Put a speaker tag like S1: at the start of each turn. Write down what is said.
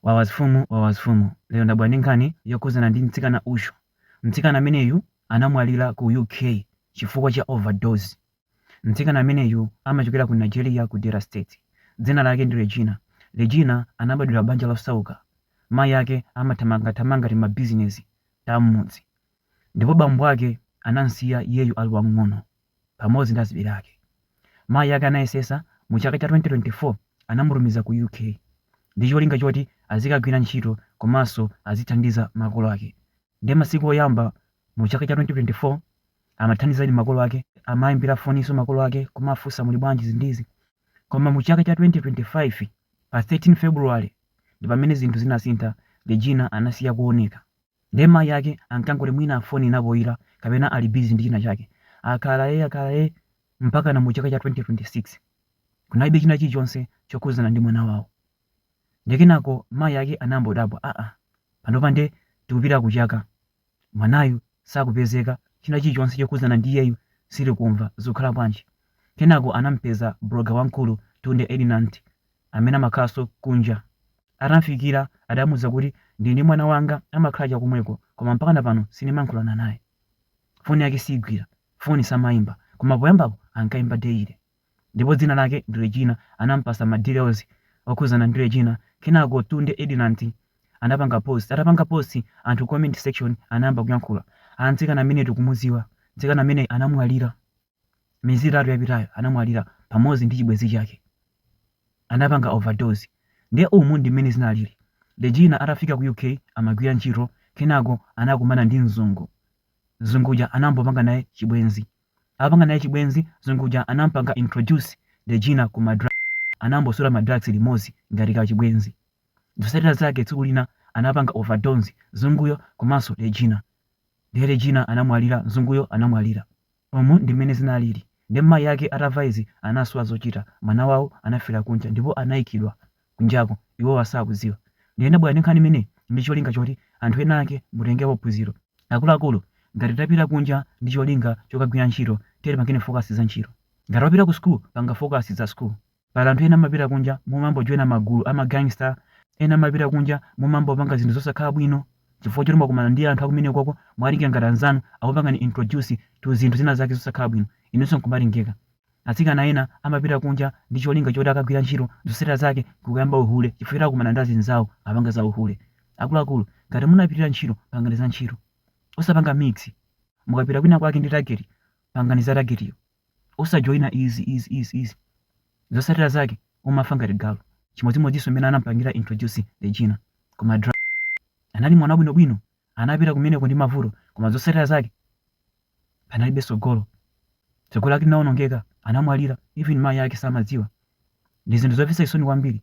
S1: Wawas fumu wawas fumu lero ndabwera ndi nkhani yokhuzana ndi mtsikana uyo mtsikana ameneyu anamwalira ku UK chifukwa cha overdose mtsikana ameneyu amachokera ku Nigeria ku Delta State dzina lake ndi Regina Regina anabadwira banja losauka mayi ake amathamangathamanga timabusiness ta mmudzi ndipo bambo ake anamsiya iyeyu ali wamng'ono pamodzi ndi azibale ake. Mayi ake anayesesa mu chaka cha 2024 anamutumiza ku UK ndi cholinga choti azikagwira ntchito komanso azithandiza makolo ake. Nde masiku oyamba mu chaka cha 2024 amathandizadi makolo ake, amaimbira foninso makolo ake kumafunsa muli bwanji izi ndi izi. Koma mu chaka cha 2025 pa 13 February ndi pamene zinthu zinasintha Regina anasiya kuoneka. Nde mayi ake ankangoti mwina phone inapoira kapena ali busy ndi china chake. Akhala ee akhala ee mpakana mu chaka cha 2026 kunalibe china chilichonse chokhudzana ndi mwana wawo. Nde kenako mayi ake anambodabwa aa panopa nde tikupita ku chaka mwanayu sakupezeka china chilichonse chokhudzana ndi iyeyu sitikumva zikukhala bwanji. Kenako anamupeza blogger wamkulu Tunde Ednut. amene amakhalanso kunja. Atamfikira, adamuuza kuti, Ndili ndi mwana wanga amakhala chakomweko, koma mpakana pano sindimayankhulana naye. Foni yake siigwira, foni samaimba, koma poyambapo ankaimba daily. Ndipo dzina lake ndi Regina. Anamupatsa ma details okhudzana ndi Regina. Kenako Tunde Ednut anapanga post. Atapanga post, anthu ku comment section anayamba kuyankhula. Aa, mtsikana ameneyu tikumudziwa. Mtsikana ameneyu anamwalira. Miyezi itatu yapitayo anamwalira pamodzi ndi chibwenzi chake. Anapanga overdose. Ndiye umu ndi mmene zinalili. Regina atafika ku UK amagwira ntchito kenako anakumana ndi mzungu. Mzungu uja anambopanga naye chibwenzi. Atapanga naye chibwenzi, mzungu uja anampanga introduce Regina ku ma drugs. Anambosuta ma drugs limodzi ngati ka chibwenzi. Zotsatira zake tsiku lina anapanga overdose mzunguyo komanso Regina. Ndiye Regina anamwalira, mzunguyo anamwalira. Umu ndi mmene zinalili nde mayi ake atamva izi anasowa zochita mwana wawo anafera kunja ndipo anaikidwa kunjako iwowa sakudziwa nde ndabwera ndi nkhani imeneyi ndi cholinga choti anthu ena ake mutengepo phunziro akuluakulu ngati tapita kunja ndi cholinga chokagwira ntchito tiyeni tipange focus za ntchito ngati wapita ku school panga focus za school Pali anthu ena amapita kunja mumambojoina magulu ama gangster, ena amapita kunja mumambopanga zinthu zosakhala bwino chifukwa choti mwakumana ndi anthu akumeneko mwawatenga ngati anzanu akupangani introduce to zinthu zina zake zosakhala bwino inunso nkumatengeka. Atsikana ena amapita kunja ndi cholinga choti akagwira ntchito zotsatira zake nkukayamba uhule chifukwa choti akumana ndi azinzawo apanga za uhule. Akuluakulu ngati munapitira ntchito pangani za ntchito osapanga mix. Mukapita kwina kwake ndi target pangani za target yo. osajoina easy easy easy easy zotsatira zake umafa ngati galu chimodzimodzinso mmene anampangira introduce Regina ku ma drug anali mwana wabwinobwino anapita kumeneko ndi mavuto koma zotsatira zake panalibe tsogolo tsogolo lake linawonongeka anamwalira even mayi ake samadziwa ndi zinthu zomvetsa chisoni kwambiri